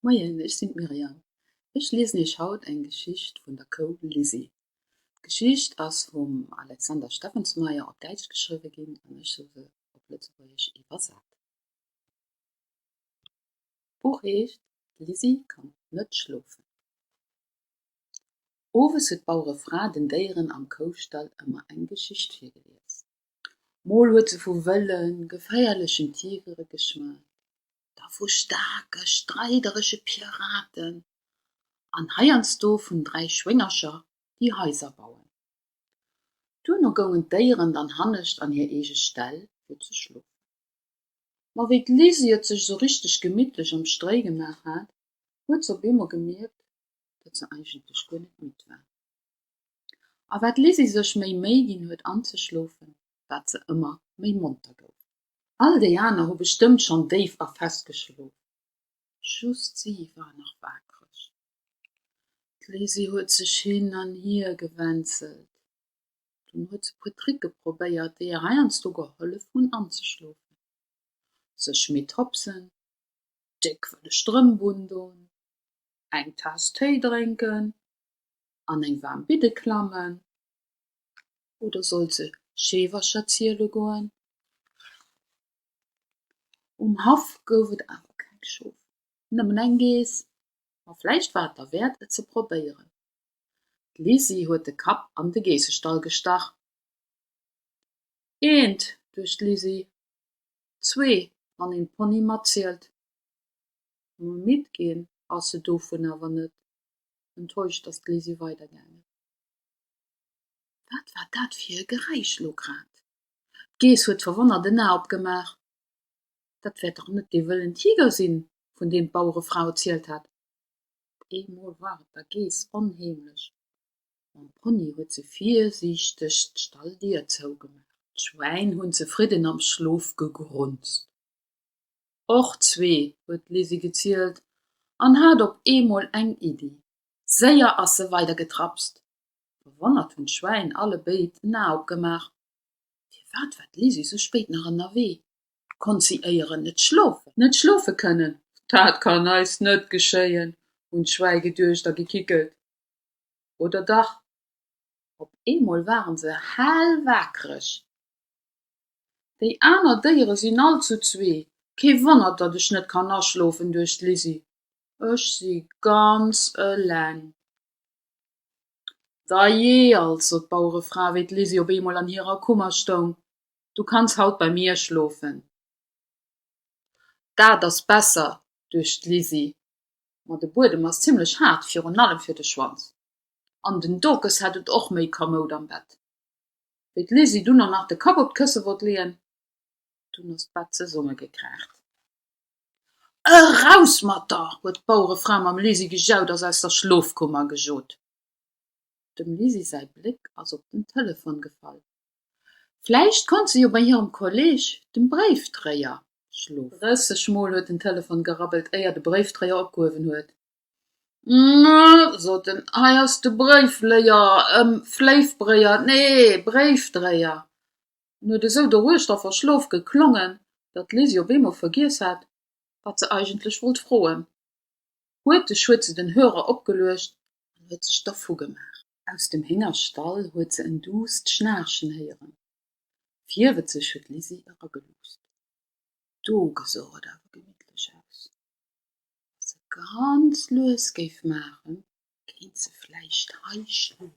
Moien, ech sinn d'Myriam. Ech liesen iech haut eng Geschicht vun der Kou Lisi. D'Geschicht ass vum Alexander Steffensmeier op Däitsch geschriwwe ginn an ech hu se op Lëtzebuergesch iwwersat. D'Buch heescht D'Lisi kann net schlofen. Owes huet d'Bauerefra den Déieren am Koustall ëmmer eng Geschicht virgelies. Mol huet se vu wëllen, geféierlechen Tigere geschwat, da vu staarke, streideresche Piraten an heiansdo vun dräi Schwéngercher, déi Haiser bauen. Duerno goungen d'Déieren dann hannescht an hir eege Ställ fir ze schlofen. Ma wéi d'Lizzie et sech esou richteg gemittlech am Stréi gemaach hat, huet se op eemol gemierkt, datt se eigentlech guer net midd war. A wat d'Lizzie sech méi Méi ginn huet anzeschlofen, wat se ëmmer méi monter gouf. All déi aner hu bestëmmt schonn déif a fest geschlof, just si war nach waakreg. D'Lisi huet sech hin an hier gewänzelt, dunn huet se puer Tricke probéiert, déi hir heiansdo gehollef hunn anzeschlofen, sech midd hopsen, déck wëlle Strëmp undon, eng Taass Téi drénken an eng waarm Bidde klammen. Oder sollt se Scheewercher ziele goen? Um Haff gouf et awer keng Schof, nëmmen eng Geess. Ma vläicht war et derwäert, et ze probéieren. D'Lisi huet de Kapp an de Geessestall gestach. Eent, duecht d'Lisi, zwee, wann een d'Ponye matzielt. Ma midd ginn ass se dovun awer net. Enttäuscht ass d'Lisi weidergaangen. Wat war dat fir e Geräisch elo grad? D'Geess huet verwonnert en A opgemaach. Dat wäert dach net dee wëllen Tiger sinn, vun deem d'Bauerefra erzielt hat. Op eemol war et der Geess onheemlech. Mam Pony huet se virsiichteg d'Stalldier zougemaach. D'Schwäin hunn zefridden am Schlof gegrunzt. Och zwee, huet d'Lizzie gezielt an hat op eemol eng Iddi. Séier ass se weider getrapst. Verwonnert hunn d'Schwäin alle béid en A opgemaach. Firwat war d'Lisi sou spéit nach ënnerwee? Konnt si éieren net schlofen? Net schlofe kënnen, dat kann eis net geschéien, hunn d'Schwäi geduecht a gekickelt. Oder dach? Op eemol ware se hell wakereg. Déi aner Déiere sinn all zu zwee. Kee Wonner, datt ech net kann aschlofen, duecht d'Lisi. Ech si ganz eleng. Dajee also, sot d'Bauerefra, wéi d'Lisi op eemol an hirer Kummer stoung, du kanns haut bei mir schlofen. Dat ass besser, duecht d'Lisi, ma de Buedem ass zimmlech haart, virun allem fir de Schwanz, an den Dokes hätt et och méi kamoud am Bett. Wéi d'Lisi dunn och nach de Kapp op d'Kësse wollt leeën, dunn ass d'Bett zesummegekraacht. Eraus mat der! huet d'Bauerefra mam Lisi gejaut a s'aus der Schlofkummer gejot. Dem Lisi säi Bléck ass op den Telefon gefall. Vläicht konnt se jo bei hirem Kolleeg, dem Bréifdréier, schlofen. Drësseg Mol huet den Telefon gerabbelt, éier de Bréifdréier opgehuewen huet. Mä, sot en, hei ass de Bréifléier, ëm Fléifbréier, nee, Bréifdréier. En huet esou doruechter verschlof geklongen, datt d'Lizzie op eemol vergiess hat, wat se eigentlech wollt froen. Huerteg huet se den Hörer opgeluecht an huet sech dervugemaach. Aus dem Héngerstall huet se en duusst Schnaarchen héieren. Virwëtzeg huet d'Lizzie erageluuscht. Do gesouch et awer gemittlech aus. Wa se ganz lues géif maachen, kéint se vläicht hei schlofen.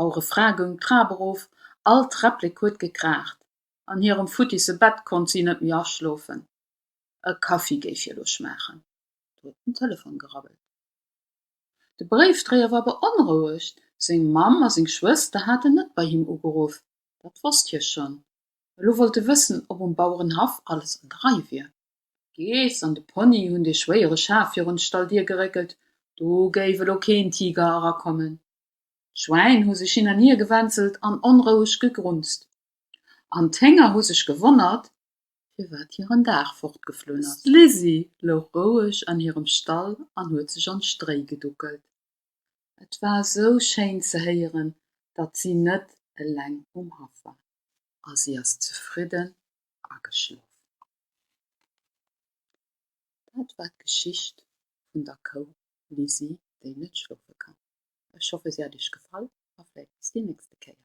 Au Refrain goung d'Trap erof, all Träpplek huet gekraacht, an hirem futtisse Bett konnt si net méi aschlofen. E Kaffi géif hir elo schmaachen. Do huet den Telefon gerabbelt. De Bréifdréier war beonrouegt, seng Mamm a seng Schwëster haten net bei him ugeruff, dat wosst hie schonn. Elo wollt e wëssen, ob um Bauerenhaff alles an der Rei wier. D'Geess an de Pony hunn dee schwéiere Schaf virun d'Stalldier geréckelt, do géif elo keen Tiger erakommen. D'Schwäin hu sech hin an hier gewänzelt an onroueg gegrunzt, an d'Hénger hu sech gewonnert, firwat hiren Dag fortgeflunn ass. D'Lizzie louch roueg an hirem Stall an huet sech an d'Stréi geduckelt. Et war esou schéin ze héieren, datt si net eleng um Haff war, a si ass zefridden ageschlof. Dat war d'Geschicht vun der Kou Lizzie, déi net schlofe kann. Ech hoffe se hat iech gefall a vläit bis déi nächste Kéier.